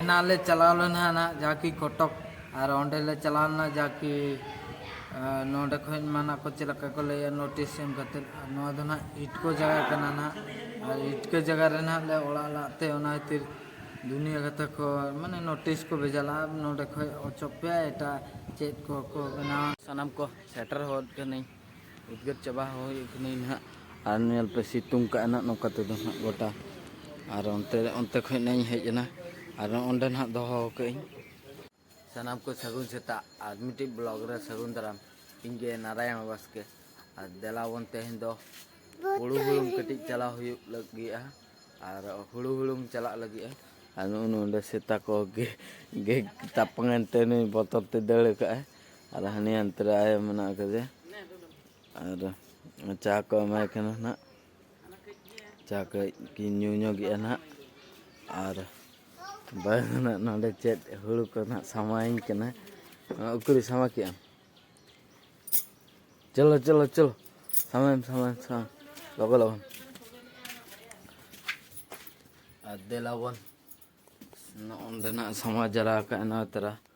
ᱮᱱᱟᱝ ᱞᱮ ᱪᱟᱞᱟᱣ ᱞᱮᱱᱟ ᱱᱟᱦᱟᱜ ᱡᱟᱦᱟᱸᱠᱤ ᱠᱚᱴᱚᱠ ᱟᱨ ᱚᱸᱰᱮ ᱞᱮ ᱪᱟᱞᱟᱣ ᱞᱮᱱᱟ ᱡᱟᱦᱟᱸᱠᱤ ᱱᱚᱸᱰᱮ ᱠᱷᱚᱱ ᱢᱟ ᱱᱟᱦᱟᱜ ᱠᱚ ᱪᱮᱫ ᱞᱮᱠᱟ ᱠᱚ ᱞᱟᱹᱭᱟ ᱱᱳᱴᱤᱥ ᱮᱢ ᱠᱟᱛᱮᱫ ᱟᱨ ᱱᱚᱣᱟ ᱫᱚ ᱱᱟᱦᱟᱜ ᱤᱴᱠᱳ ᱡᱟᱭᱜᱟ ᱠᱟᱱᱟ ᱱᱟᱦᱟᱜ ᱟᱨ ᱤᱴᱠᱳ ᱡᱟᱭᱜᱟ ᱨᱮ ᱱᱟᱦᱟᱜ ᱞᱮ ᱚᱲᱟᱜ ᱞᱟᱜ ᱛᱮ ᱚᱱᱟ ᱠᱷᱟᱹᱛᱤᱨ ᱫᱩᱱᱤᱭᱟᱹ ᱠᱟᱛᱷᱟ ᱠᱚ ᱢᱟᱱᱮ ᱱᱳᱴᱤᱥ ᱠᱚ ᱵᱷᱮᱡᱟ ᱞᱟᱜᱼᱟ ᱱᱚᱸᱰᱮ ᱠᱷᱚᱱ ᱚᱪᱚᱜ ᱯᱮ ᱮᱴᱟᱜ ᱪᱮᱫ ᱠᱚ ᱠᱚ ᱵᱮᱱᱟᱣᱟ ᱥᱟᱱᱟᱢ ᱠᱚ ᱥᱮᱴᱮᱨ ᱦᱚᱫ ᱠᱟᱹᱱᱟᱹᱧ ᱩᱫᱽᱜᱟᱹᱨ ᱪᱟᱵᱟ ᱦᱩᱭ ᱠᱟᱹᱱᱟᱹᱧ ᱱᱟᱦᱟᱜ ᱟᱨ ᱧᱮᱞ ᱯᱮ ᱥᱤᱛᱩᱝ ᱠᱟᱜᱼᱟ ᱱᱟᱦᱟᱜ ᱱᱚᱝᱠᱟ ᱛᱮᱫᱚ ᱱᱟᱦᱟᱜ ᱜᱚᱴᱟ ᱟᱨ ᱚᱱᱛᱮ ᱚᱱᱛᱮ ᱠᱷᱚᱱ ᱱᱟᱦᱟᱜ ᱤᱧ ᱦᱮᱡ ᱮᱱᱟ ᱟᱨ ᱚᱸᱰᱮ ᱱᱟᱦᱟᱜ ᱫᱚᱦᱚ ᱠᱟᱜ ᱟᱹᱧ ᱥᱟᱱᱟᱢ ᱠᱚ ᱥᱟᱹᱜᱩᱱ ᱥᱮᱛᱟᱜ ᱟᱨ ᱢᱤᱫᱴᱤᱡ ᱵᱞᱚᱜ ᱨᱮ ᱥᱟᱹᱜᱩᱱ ᱫᱟᱨᱟᱢ ᱤᱧ ᱜᱮ ᱱᱟᱨᱟᱭᱚᱱ ᱵᱟᱥᱠᱮ ᱟᱨ ᱫᱮᱞᱟ ᱵᱚᱱ ᱛᱮᱦᱮᱧ ᱫᱚ ᱦᱩᱲᱩ ᱦᱩᱲᱩᱢ ᱠᱟᱹᱴᱤᱡ ᱪᱟᱞᱟᱣ ᱦᱩᱭᱩᱜ ᱞᱟᱹᱜᱤᱫᱼᱟ ᱟᱨ ᱦᱩᱲᱩ ᱦᱩᱲᱩᱢ ᱪᱟᱞᱟᱜ ᱞᱟᱹᱜᱤᱫᱼᱟ ᱟᱨ ᱱᱚᱜᱼᱚ ᱱᱚᱰᱮ ᱥᱮᱛᱟ ᱠᱚ ᱜᱮ ᱜᱮ ᱛᱟᱯᱟᱝ ᱮᱱᱛᱮ ᱱᱩᱭ ᱵᱚᱛᱚᱨ ᱛᱮ ᱫᱟᱹᱲ ᱠᱟᱜᱼᱟᱭ ᱟᱨ ᱦᱟᱹᱱᱤ ᱦᱟᱱᱛᱮ ᱨᱮ ᱟᱭᱳ ᱢᱮᱱᱟᱜ ᱟᱠᱟᱫᱮᱭᱟ ᱟᱨ ᱪᱟ ᱠᱚ ᱮᱢᱟᱭ ᱠᱟᱱᱟ ᱱᱟᱦᱟᱜ ᱪᱟ ᱠᱟᱹᱡ ᱠᱤᱱ ᱧᱩ ᱧᱚᱜᱮᱜᱼᱟ ᱱᱟᱦᱟᱜ ᱟᱨ ᱵᱟᱭ ᱱᱟᱦᱟᱜ ᱱᱚᱰᱮ ᱪᱮᱫ ᱦᱩᱲᱩ ᱠᱚ ᱱᱟᱦᱟᱜ ᱥᱟᱢᱟᱭᱤᱧ ᱠᱟᱱᱟ ᱩᱠᱩᱨᱤ ᱥᱟᱢᱟ ᱠᱮᱜᱼᱟᱢ ᱪᱚᱞᱚ ᱪᱚᱞᱚ ᱪᱚᱞᱚ ᱥᱟᱢᱟᱭᱮᱢ ᱥᱟᱢᱟᱭᱮᱢ ᱥᱟᱢᱟ ᱞᱚᱜᱚ ᱞᱚᱜᱚᱱ ᱟᱨ ᱫᱮᱞᱟᱵᱚᱱ ᱱᱚᱜᱼᱚᱸᱰᱮ ᱱᱟᱦᱟᱜ ᱥᱟᱢᱟ ᱡᱟᱣᱨᱟ ᱟᱠᱟᱫᱼᱟ ᱱᱚᱣᱟ ᱛᱟᱨᱟ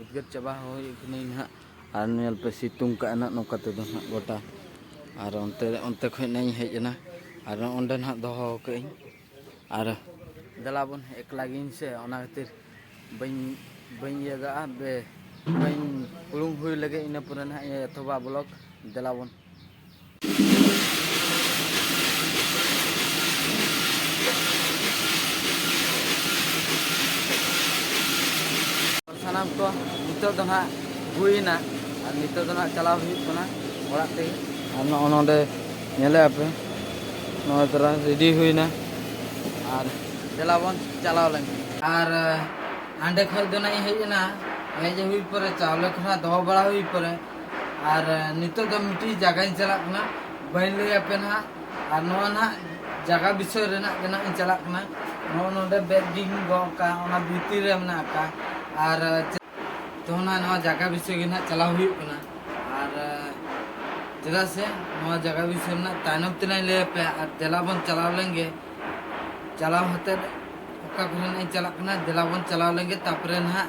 ᱩᱫᱽᱜᱟᱹᱨ ᱪᱟᱵᱟ ᱦᱩᱭ ᱠᱟᱹᱱᱟᱹᱧ ᱱᱟᱦᱟᱜ ᱟᱨ ᱧᱮᱞ ᱯᱮ ᱥᱤᱛᱩᱝ ᱠᱟᱜᱼᱟ ᱱᱟᱦᱟᱜ ᱱᱚᱝᱠᱟ ᱛᱮᱫᱚ ᱱᱟᱦᱟᱜ ᱜᱚᱴᱟ ᱟᱨ ᱚᱱᱛᱮ ᱚᱱᱛᱮ ᱠᱷᱚᱱ ᱱᱟᱦᱟᱜ ᱤᱧ ᱦᱮᱡ ᱮᱱᱟ ᱟᱨ ᱚᱸᱰᱮ ᱱᱟᱦᱟᱜ ᱫᱚᱦᱚ ᱠᱟᱜ ᱟᱹᱧ ᱟᱨ ᱫᱮᱞᱟ ᱵᱚᱱ ᱮᱠᱞᱟ ᱜᱤᱭᱟᱹᱧ ᱥᱮ ᱚᱱᱟ ᱠᱷᱟᱹᱛᱤᱨ ᱵᱟᱹᱧ ᱵᱟᱹᱧ ᱤᱭᱟᱹ ᱠᱟᱜᱼᱟ ᱵᱮ ᱵᱟᱹᱧ ᱩᱲᱩᱝ ᱦᱩᱭ ᱞᱮᱜᱮ ᱤᱱᱟᱹ ᱯᱚᱨᱮ ᱱᱟᱦᱟᱜ ᱤᱧ ᱮᱛᱚᱦᱚᱵᱟ ᱵᱞᱚᱜᱽ ᱫᱮᱞᱟ ᱵᱚᱱ ᱥᱟᱱᱟᱢ ᱠᱚ ᱱᱤᱛᱚᱜ ᱫᱚ ᱱᱟᱦᱟᱜ ᱦᱩᱭᱮᱱᱟ ᱟᱨ ᱱᱤᱛᱚᱜ ᱫᱚ ᱱᱟᱦᱟᱜ ᱪᱟᱞᱟᱣ ᱦᱩᱭᱩᱜ ᱠᱟᱱᱟ ᱚᱲᱟᱜ ᱛᱮᱜᱮ ᱟᱨ ᱱᱚᱜᱼᱚ ᱱᱚᱰᱮ ᱧᱮᱞᱮ ᱟᱯᱮ ᱱᱚᱣᱟ ᱛᱟᱨᱟ ᱨᱮᱰᱤ ᱦᱩᱭᱮᱱᱟ ᱟᱨ ᱫᱮᱞᱟ ᱵᱚᱱ ᱪᱟᱞᱟᱣ ᱞᱮᱱ ᱟᱨ ᱦᱟᱸᱰᱮ ᱠᱷᱚᱱ ᱫᱚ ᱱᱟᱦᱟᱜ ᱤᱧ ᱦᱮᱡ ᱮᱱᱟ ᱦᱮᱡ ᱦᱩᱭ ᱯᱚᱨᱮ ᱪᱟᱣᱞᱮ ᱠᱚ ᱱᱟᱦᱟᱜ ᱫᱚᱦᱚ ᱵᱟᱲᱟ ᱦᱩᱭ ᱯᱚᱨᱮ ᱟᱨ ᱱᱤᱛᱚᱜ ᱫᱚ ᱢᱤᱫᱴᱤᱡ ᱡᱟᱭᱜᱟᱧ ᱪᱟᱞᱟᱜ ᱠᱟᱱᱟ ᱵᱟᱹᱧ ᱞᱟᱹᱭ ᱟᱯᱮ ᱱᱟᱦᱟᱜ ᱟᱨ ᱱᱚᱣᱟ ᱱᱟᱦᱟᱜ ᱡᱟᱭᱜᱟ ᱵᱤᱥᱚᱭ ᱨᱮᱱᱟᱜ ᱜᱮ ᱱᱟᱦᱟᱜ ᱤᱧ ᱪᱟᱞᱟᱜ ᱠᱟᱱᱟ ᱱᱚᱜᱼᱚ ᱱᱚᱰᱮ ᱵᱮᱜᱽ ᱜᱤᱧ ᱜᱚᱜ ᱟᱠᱟᱫ ᱚᱱᱟ ᱵᱷᱤᱛᱤᱨ ᱨᱮ ᱢᱮᱱᱟᱜ ᱟᱠᱟᱫ ᱟᱨ ᱛᱚ ᱱᱟᱦᱟᱜ ᱱᱚᱣᱟ ᱡᱟᱭᱜᱟ ᱵᱤᱥᱚᱭ ᱜᱮ ᱱᱟᱦᱟᱜ ᱪᱟᱞᱟᱣ ᱦᱩᱭᱩᱜ ᱠᱟᱱᱟ ᱟᱨ ᱪᱮᱫᱟᱜ ᱥᱮ ᱱᱚᱣᱟ ᱡᱟᱭᱜᱟ ᱵᱤᱥᱚᱭ ᱨᱮᱱᱟᱜ ᱛᱟᱭᱱᱚᱢ ᱛᱮᱱᱟᱜ ᱞᱟᱹᱭ ᱟᱯᱮ ᱟᱨ ᱫᱮᱞᱟ ᱵᱚᱱ ᱪᱟᱞᱟᱣ ᱞᱮᱱ ᱜᱮ ᱪᱟᱞᱟᱣ ᱦᱟᱛᱮᱫ ᱚᱠᱟ ᱠᱚᱨᱮ ᱱᱟᱦᱟᱜ ᱤᱧ ᱪᱟᱞᱟᱜ ᱠᱟᱱᱟ ᱫᱮᱞᱟ ᱵᱚᱱ ᱪᱟᱞᱟᱣ ᱞᱮᱱ ᱜᱮ ᱛᱟᱯᱚᱨᱮ ᱱᱟᱦᱟᱜ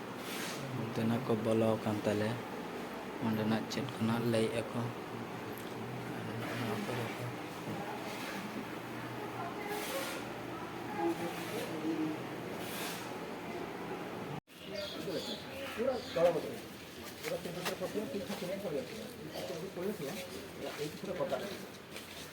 ᱚᱱᱛᱮ ᱱᱟᱜ ᱠᱚ ᱵᱚᱞᱚ ᱟᱠᱟᱱ ᱛᱟᱞᱮ ᱚᱸᱰᱮᱱᱟᱜ ᱪᱮᱫ ᱠᱚᱱᱟᱜ ᱞᱟᱹᱭᱮᱫ ᱟᱠᱚ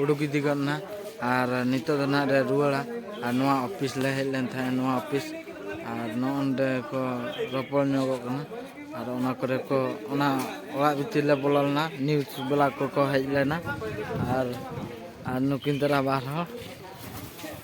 ᱩᱰᱩᱠ ᱤᱫᱤ ᱜᱚᱫ ᱮᱱᱟ ᱟᱨ ᱱᱤᱛᱚᱜ ᱫᱚ ᱱᱟᱦᱟᱜ ᱞᱮ ᱨᱩᱣᱟᱹᱲᱟ ᱟᱨ ᱱᱚᱣᱟ ᱚᱯᱷᱤᱥ ᱞᱮ ᱦᱮᱡ ᱞᱮᱱ ᱛᱟᱦᱮᱸᱫ ᱱᱚᱣᱟ ᱚᱯᱷᱤᱥ ᱟᱨ ᱱᱚᱜᱼᱚᱸᱰᱮ ᱠᱚ ᱨᱚᱯᱚᱲ ᱧᱚᱜᱚᱜ ᱠᱟᱱᱟ ᱟᱨ ᱚᱱᱟ ᱠᱚᱨᱮ ᱠᱚ ᱚᱱᱟ ᱚᱲᱟᱜ ᱵᱷᱤᱛᱤᱨ ᱞᱮ ᱵᱚᱞᱚ ᱞᱮᱱᱟ ᱱᱤᱭᱩᱡᱽ ᱵᱟᱞᱟ ᱠᱚᱠᱚ ᱦᱮᱡ ᱞᱮᱱᱟ ᱟᱨ ᱟᱨ ᱱᱩᱠᱤᱱ ᱫᱚ ᱨᱟᱵᱟᱨ ᱦᱚᱸ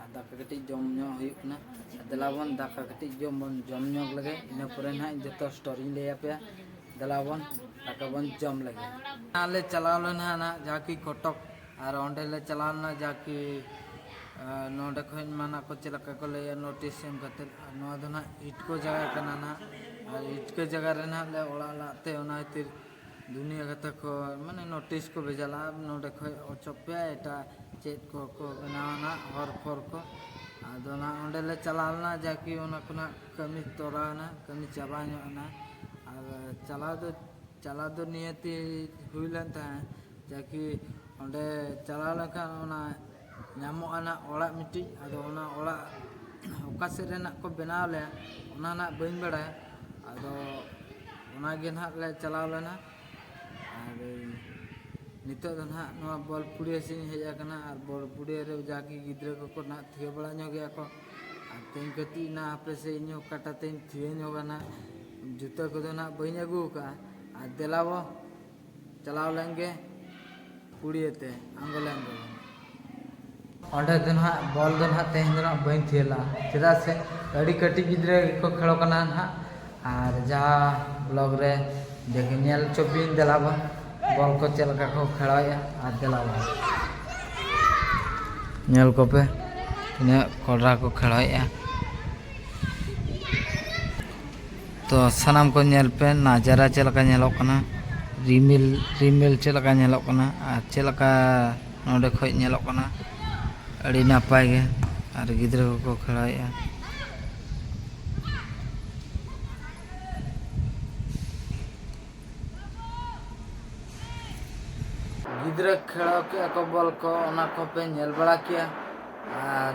ᱟᱨ ᱫᱟᱠᱟ ᱠᱟᱹᱴᱤᱡ ᱡᱚᱢ ᱧᱚᱜ ᱦᱩᱭᱩᱜ ᱠᱟᱱᱟ ᱫᱮᱞᱟᱵᱚᱱ ᱫᱟᱠᱟ ᱠᱟᱹᱴᱤᱡ ᱡᱚᱢ ᱵᱚᱱ ᱡᱚᱢ ᱧᱚᱜ ᱞᱮᱜᱮ ᱤᱱᱟᱹ ᱯᱚᱨᱮ ᱱᱟᱦᱟᱜ ᱤᱧ ᱡᱚᱛᱚ ᱥᱴᱳᱨᱤᱧ ᱞᱟᱹᱭ ᱟᱯᱮᱭᱟ ᱫᱮᱞᱟᱵᱚᱱ ᱫᱟᱠᱟ ᱵᱚᱱ ᱡᱚᱢ ᱞᱮᱜᱮ ᱱᱟᱦᱟᱜ ᱞᱮ ᱪᱟᱞᱟᱣ ᱞᱮᱱᱟ ᱱᱟᱦᱟᱜ ᱡᱟᱦᱟᱸ ᱠᱤ ᱠᱚᱴᱚᱠ ᱟᱨ ᱚᱸᱰᱮ ᱞᱮ ᱪᱟᱞᱟᱣ ᱞᱮᱱᱟ ᱡᱟᱦᱟᱸ ᱠᱤ ᱱᱚᱰᱮ ᱠᱷᱚᱱ ᱢᱟᱱᱟ ᱠᱚ ᱪᱮᱫ ᱞᱮᱠᱟ ᱠᱚ ᱞᱟᱹᱭᱟ ᱱᱳᱴᱤᱥ ᱮᱢ ᱠᱟᱛᱮ ᱱᱚᱣᱟ ᱫᱚ ᱱᱟᱦᱟᱜ ᱤᱴᱠᱳ ᱡᱟᱭᱜᱟ ᱠᱟᱱᱟ ᱱᱟᱦᱟᱜ ᱟᱨ ᱤᱴᱠᱳ ᱡᱟᱭᱜᱟ ᱨᱮ ᱱᱟᱦᱟᱜ ᱞᱮ ᱚᱲᱟᱜ ᱞᱟᱜ ᱛᱮ ᱚᱱᱟ ᱠᱷᱟᱹᱛᱤᱨ ᱫᱩᱱᱤᱭᱟᱹ ᱜᱟᱛᱟᱠ ᱠᱚ ᱢᱟᱱᱮ ᱱᱳᱴᱤᱥ ᱠᱚ ᱵᱷᱮᱡᱟ ᱞᱟᱜᱼᱟ ᱱᱚᱰᱮ ᱠᱷᱚᱱ ᱚᱪᱚᱜ ᱯᱮ ᱮᱴᱟᱜ ᱪᱮᱫ ᱠᱚ ᱠᱚ ᱵᱮᱱᱟᱣᱟ ᱱᱟᱦᱟᱜ ᱦᱚᱨ ᱯᱷᱚᱨ ᱠᱚ ᱟᱫᱚ ᱱᱟᱦᱟᱜ ᱚᱸᱰᱮ ᱞᱮ ᱪᱟᱞᱟᱣ ᱞᱮᱱᱟ ᱡᱟᱠᱤ ᱚᱱᱟ ᱠᱚ ᱱᱟᱦᱟᱜ ᱠᱟᱹᱢᱤ ᱛᱚᱨᱟᱣᱮᱱᱟ ᱠᱟᱹᱢᱤ ᱪᱟᱵᱟ ᱧᱚᱜ ᱮᱱᱟ ᱟᱨ ᱪᱟᱞᱟᱣ ᱫᱚ ᱪᱟᱞᱟᱣ ᱫᱚ ᱱᱤᱦᱟᱹᱛᱤ ᱦᱩᱭ ᱞᱮᱱ ᱛᱟᱦᱮᱸᱫ ᱡᱟᱠᱤ ᱚᱸᱰᱮ ᱪᱟᱞᱟᱣ ᱞᱮᱱᱠᱷᱟᱱ ᱚᱱᱟ ᱧᱟᱢᱚᱜᱼᱟ ᱱᱟᱜ ᱚᱲᱟᱜ ᱢᱤᱫᱴᱤᱡ ᱟᱫᱚ ᱚᱱᱟ ᱚᱲᱟᱜ ᱚᱠᱟ ᱥᱮᱫ ᱨᱮ ᱱᱟᱜ ᱠᱚ ᱵᱮᱱᱟᱣ ᱟᱞᱮᱭᱟ ᱚᱱᱟ ᱱᱟᱜ ᱵᱟᱹᱧ ᱵᱟᱲᱟᱭᱟ ᱟᱫᱚ ᱚᱱᱟ ᱜᱮ ᱱᱟᱜ ᱞᱮ ᱪᱟᱞᱟᱣ ᱞᱮᱱᱟ ᱟᱨ ᱱᱤᱛᱚᱜ ᱫᱚ ᱱᱟᱜ ᱱᱚᱣᱟ ᱵᱚᱞᱯᱩᱲᱤᱭᱟᱹ ᱥᱮᱫ ᱤᱧ ᱦᱮᱡ ᱟᱠᱟᱱᱟ ᱟᱨ ᱵᱚᱞᱯᱩᱲᱤᱭᱟᱹ ᱨᱮ ᱡᱟᱜᱮ ᱜᱤᱫᱽᱨᱟᱹ ᱠᱚᱠᱚ ᱱᱟᱜ ᱛᱷᱤᱭᱟᱹ ᱵᱟᱲᱟ ᱧᱚᱜ ᱜᱮᱭᱟ ᱠᱚ ᱟᱨ ᱛᱮᱦᱮᱧ ᱠᱟᱹᱴᱤᱡ ᱱᱟᱜ ᱦᱟᱯᱮ ᱥᱮ ᱤᱧ ᱦᱚᱸ ᱠᱟᱴᱟ ᱛᱮᱧ ᱛᱷᱤᱭᱟᱹ ᱧᱚᱜᱟ ᱱᱟᱜ ᱡᱩᱛᱟᱹ ᱠᱚᱫᱚ ᱱᱟᱜ ᱵᱟᱹᱧ ᱟᱹᱜᱩ ᱟᱠᱟᱫᱼᱟ ᱟᱨ ᱫᱮᱞᱟᱵᱚ ᱪᱟᱞᱟᱣ ᱞᱮᱱ ᱜᱮ ᱠᱩᱲᱤᱭᱟᱹ ᱛᱮ ᱟᱝᱜᱚᱞᱮ ᱟᱝᱜᱚᱞᱮ ᱚᱸᱰᱮ ᱫᱚ ᱱᱟᱦᱟᱜ ᱵᱚᱞ ᱫᱚ ᱱᱟᱦᱟᱜ ᱛᱮᱦᱮᱧ ᱫᱚ ᱱᱟᱦᱟᱜ ᱵᱟᱹᱧ ᱛᱷᱤᱭᱟᱹ ᱞᱟᱜᱼᱟ ᱪᱮᱫᱟᱜ ᱥᱮ ᱟᱹᱰᱤ ᱠᱟᱹᱴᱤᱡ ᱜᱤᱫᱽᱨᱟᱹ ᱜᱮᱠᱚ ᱠᱷᱮᱞᱚᱜ ᱠᱟᱱᱟ ᱱᱟᱦᱟᱜ ᱟᱨ ᱡᱟᱦᱟᱸ ᱵᱞᱚᱠ ᱨᱮ ᱫᱮᱠᱷᱤ ᱧᱮᱞ ᱦᱚᱪᱚ ᱯᱮᱭᱟᱹᱧ ᱫᱮᱞᱟ ᱵᱟ ᱵᱚᱞ ᱠᱚ ᱪᱮᱫ ᱞᱮᱠᱟ ᱠᱚ ᱠᱷᱮᱞᱚᱭᱮᱫᱼᱟ ᱟᱨ ᱫᱮᱞᱟ ᱵᱟ ᱧᱮᱞ ᱠᱚᱯᱮ ᱛᱤᱱᱟᱹᱜ ᱠᱚᱰᱨᱟ ᱠᱚ ᱠᱷᱮᱞᱚᱭᱮᱫᱼᱟ ᱛᱚ ᱥᱟᱱᱟᱢ ᱠᱚ ᱧᱮᱞ ᱯᱮ ᱱᱟᱡᱟᱨᱟ ᱪᱮᱫ ᱞᱮᱠᱟ ᱧᱮᱞᱚᱜ ᱠᱟᱱᱟ ᱨᱤᱢᱤᱞ ᱨᱤᱢᱤᱞ ᱪᱮᱫ ᱞᱮᱠᱟ ᱧᱮᱞᱚᱜ ᱠᱟᱱᱟ ᱟᱨ ᱪᱮᱫ ᱞᱮᱠᱟ ᱱᱚᱰᱮ ᱠᱷᱚᱡ ᱧᱮᱞᱚᱜ ᱠᱟᱱᱟ ᱟᱹᱰᱤ ᱱᱟᱯᱟᱭ ᱜᱮ ᱟᱨ ᱜᱤᱫᱽᱨᱟᱹ ᱠᱚᱠᱚ ᱠᱷᱮᱞᱟᱭᱮᱫᱼᱟ ᱜᱤᱫᱽᱨᱟᱹ ᱠᱷᱮᱞᱟᱣ ᱠᱮᱫᱼᱟ ᱠᱚ ᱵᱚᱞ ᱠᱚ ᱚᱱᱟ ᱠᱚᱯᱮ ᱧᱮᱞ ᱵᱟᱲᱟ ᱠᱮᱫᱼᱟ ᱟᱨ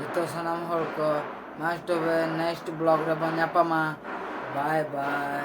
ᱡᱚᱛᱚ ᱥᱟᱱᱟᱢ ᱦᱚᱲ ᱠᱚ ᱢᱟ ᱛᱚᱵᱮ ᱱᱮᱠᱥᱴ ᱵᱞᱚᱜᱽ ᱨᱮᱵᱚᱱ ᱧᱟᱯᱟᱢᱟ ᱵᱟᱭ ᱵᱟᱭ